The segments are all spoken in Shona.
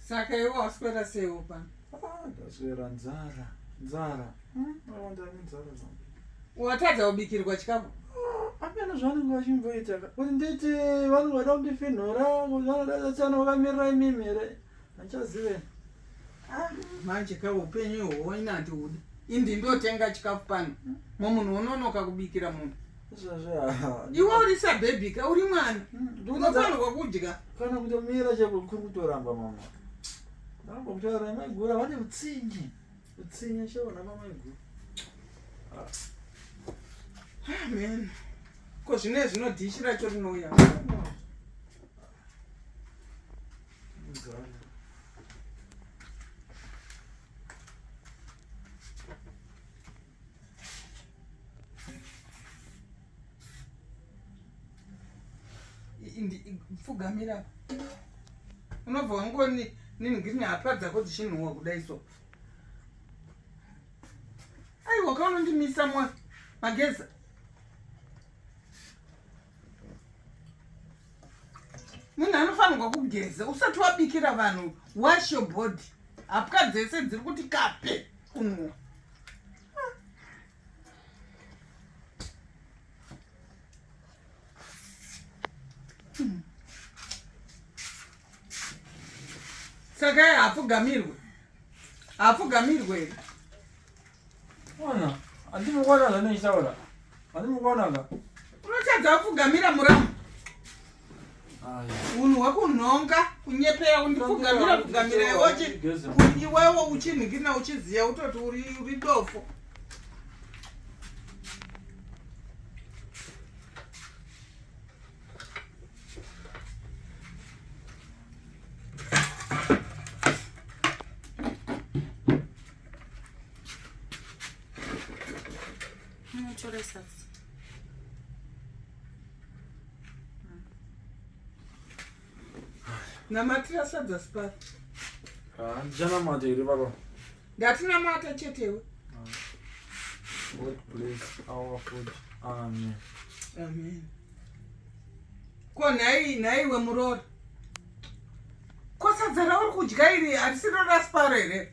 saka iwe waswera seiwo pano ah, ndaswera nzara nzara hmm, awandani nzara zangu watadza kubikirwa chikafu ah, apana zvavanenge vachimboita kuti nditi vanenge vada kundifinhura kuti vanoda tsana vakamirira imimi here handichazive Ah, manje ka upenyu ihwohwo ini handiude indi ndotenga chikafu pano mo munhu wononoka kubikira munhu iwe uri sabhebhi ka uri mwana hmm, unofanirwa kudya kana kutomira chakuri kutoramba mama ramba kutaura maigura vane utsinye utsinye chaona mamaigura amen ah, ko zvine zvinodhishi racho rinouya pfugamira unobva wangoni nini ngiri hapa dzako dzichinhuwa kudai so aiwa kaunondimisa mwa mageza munhu anofanirwa kugeza usati wabikira vanhu wash your body hapwa dzese dziri kuti kape kunwa saka hapfugamirwe hapfugamirwe here Ona, andimi kuona zvane ichaura. Andimi kuona ka. Unotadza kufugamira muramu. Unhu wakunhonga kunyepera undifugamira kugamira iwoche. Iwewe uchinhikina uchiziya utoti uri uri dofo. Munotoresatsi. Namatira sadza sipari. Ah, ndichanamata here baba? Ndatinamata chetewe. Ah. God bless our food. Amen. Amen. Ko nhai nhai wemuroora. Ko sadza rauri kudya iri harisiro rasiparo here?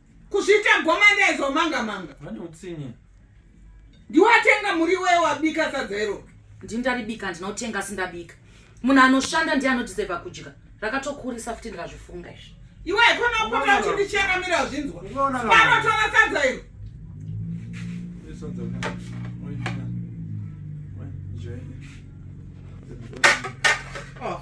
Kuzviita gomanda izo manga manga. Vane utsinye. Ndiwatenga muri wewe wabika sadza iro. Ndindaribika ndinotenga sindabika. Munhu anoshanda ndiye anodiseva kudya. Rakatokurisa futi ndikazvifunga izvi. Iwe ikona kupota uchindichera mira zvinzwa. Pano tora sadza iro. Sadza iro. Oh.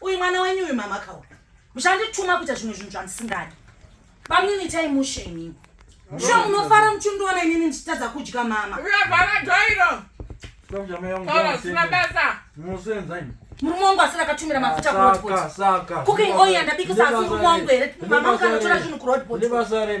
uyu mwana wenyu uyu mama kawa muchandituma kuita zvimwe zvinhu zvandisingadi bamnini itai mushe imimi sho munofara muchindiona inini ndichitadza kudya mama murume wangu asina akatumira mafuta ah, kuroadbotcooking oil yandabikisa asi murume wangu here mama mukanotora zvinhu kuroadbothorit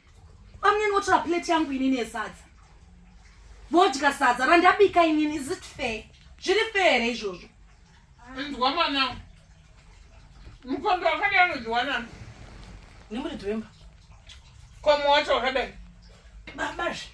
Bamnini votora plate yangu inini yesadza vodya sadza randabika inini is it fair zviri fair here izvozvo ndwa mwanangu mukombe wakadai anodziwanani nemuridzi wemba komo wacho wakadai babazve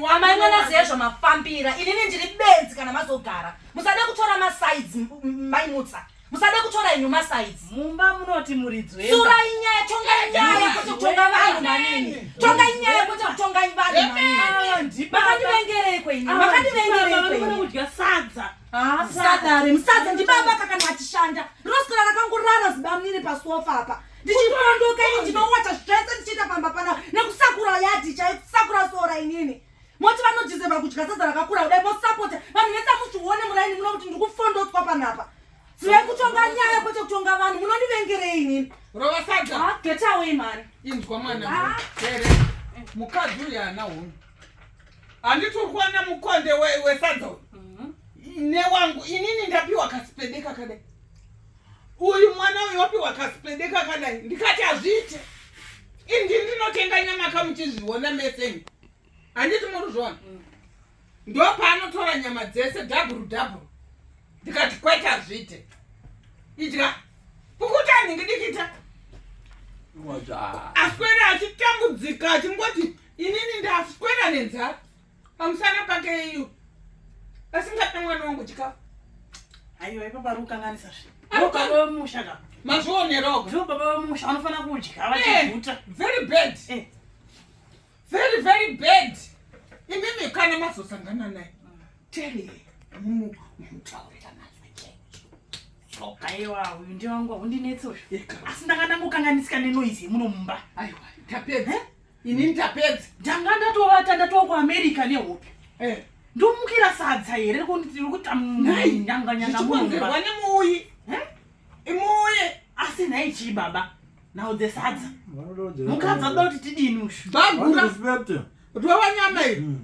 amai mwana ziya zvamafambira inini ndiri benzi kana mazogara musade kutora masides maimutsa musade kutora inyu masides mumba munoti muridzwesura inyaya tongai nyaya kuti kutonga vanhu manini tongai nyaya kuti kutongai vanhu manini makandivengereiko ini makandivengereikoikudya sadza sadare musadza ndibaba kakana achishanda rinoswera rakangorara zibamnini pasofa apa ndichipondoka ini ndinowacha zvese ndichiita pamba pana nekusakura yadhi chai kusakura sora inini moti vanodizeva kudya sadza rakakura kudai mosapota vanhu vese muchione muraini muno kuti ndikufondotswa panapa zivai kutonga nyaya kwete kutonga vanhu munondivengerei inini rova sadza ah, get away mani inzwa mwana ah. here mukadzi uyu ana hunhu handiturwana mukonde wesadza uyu mhm. newangu inini ndapiwa kasipedeka kadai uyu mwana uyu wapiwa kasipende kakadai ndikati hazviite indi ndinotenga nyama ka muchizviona meseni handiti muri zvona mm. ndo paanotora nyama dzese dhabhuru dhabhuru ndikati kwete hazviite idya pukuta ndingi dikita aswera achitambudzika achingoti inini ndaswera nenzara pamusana pake iyo asingape mwana wangu chikafu aiwa ipo pari kukanganisa zve baba vemusha ka mazvionero ndivo baba vemusha vanofanira kudya avachivuta eh, very bad eh. very very bad imimi kana mazosangana naye teri mumu mutaurira nazwi chaicho aiwa uyu ndiwangu haundinetsi uyu asi ndakanangokanganisika nenoizi yemuno mumba aiwa tapedza eh? ini ndapedza ndanga ndatovata ndatova kuamerica nehope eh. ndomukira sadza here rikutanyanganyangaichikonzerwa nemuuyi eh? imuuye asi nhai chii baba nhau dzesadza mukadzi adoda kuti tidini ushu bagura kuti wava nyama iri hmm.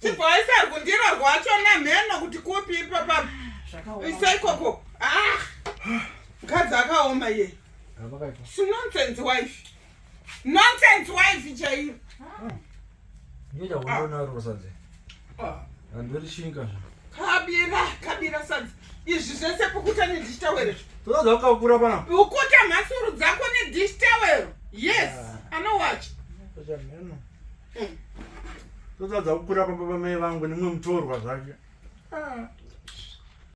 Chipo aisa ari kundiro rwacho namheno kuti kupi ipapa. Isa ikoko. Ah. Mkadzi akaoma iye. Si nonsense wife. Nonsense wife chaiyo. Ngeja wona ah. rosaze. Ah. Andori shinga. Kabira, kabira sadzi. Izvi zvese pokuta ne dish towel. Toda zvakakura pana. Ukuta mhasuru dzako ne dish towel. Yes, ah. anowatch. Toda mheno. totadza kukura pamba pamai vangu nemwe mutorwa zvake ah.